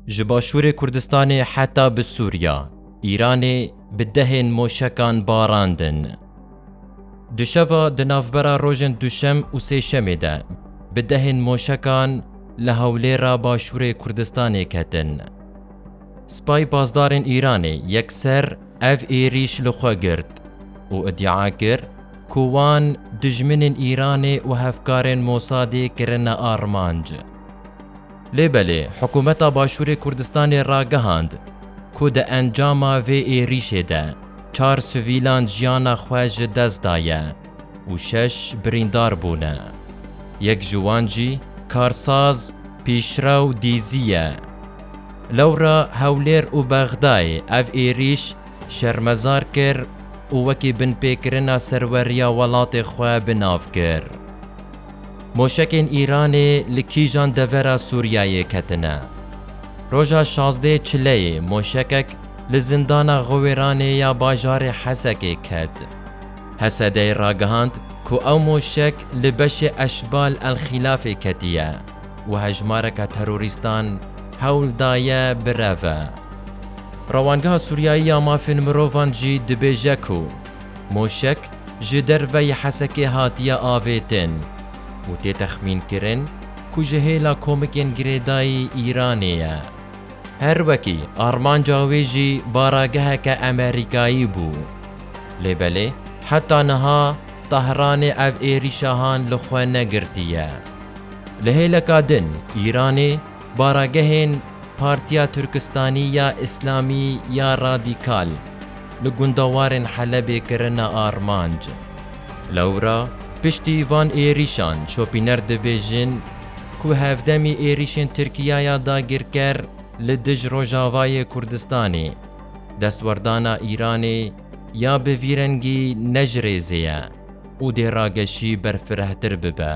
Ji başûrê Kurdistanê heta bi Sûriya, Îranê bi dehên moşekan barandin. Di şeva di navbera rojên Duşem û Sêşemê de bi dehên moşekan li Hewlêra başûrê Kurdistanê ketin. Sipay Pasdarên Îranê yekser ev êrîş li xwe girt û îdia kir ku wan dijminên Îranê û hevkarên Mosadê kirine armanc. Lê belê hikûmeta Başûrê Kurdistanê ragihand ku di encama vê êrîşê de çar sivîlan jiyana xwe ji dest daye û şeş birîndar bûne. Yek ji wan jî karsaz Pîşrew Dîzî ye. Lewra Hewlêr û Bexdayê ev êrîş şermezar kir û wekî binpêkirina serweriya welatê xwe bi nav kir. Moşekên Îranê li kîjan devera Sûriyeyê ketine? Roja şazdeh çileyê moşekek li zindana Xiwêranê ya bajarê Hesekê ket. Hesedey ragihand ku ew moşek li beşê Eşbal El Xîlafê ketiye û hejmareka terorîstan hewl daye bireve. Rewangeha Sûriyeyî ya Mafên Mirovan jî dibêje ku, Moşek ji derveyî Hesekê hatiye avêtin û tê texmînkirin ku ji hêla komikên girêdayî Îranê ye. Her wekî armanca wê jî barageheke Amerîkayî bû. Lê belê heta niha Tehranê ev êrîşahan li xwe negirtiye. Li hêleka din Îranê, Baragehên Partiya Turkistanî ya Îslamî ya Radîkal li gundewarên Helebê kirine armanc. Lewra piştî van êrîşan şopîner dibêjin ku hevdemî êrîşên Tirkiya ya dagirker li dij Rojavayê Kurdistanê, destwerdana Îranê ya bi vî rengî ne ji rêzê ye û dê rageşî berfirehtir bibe.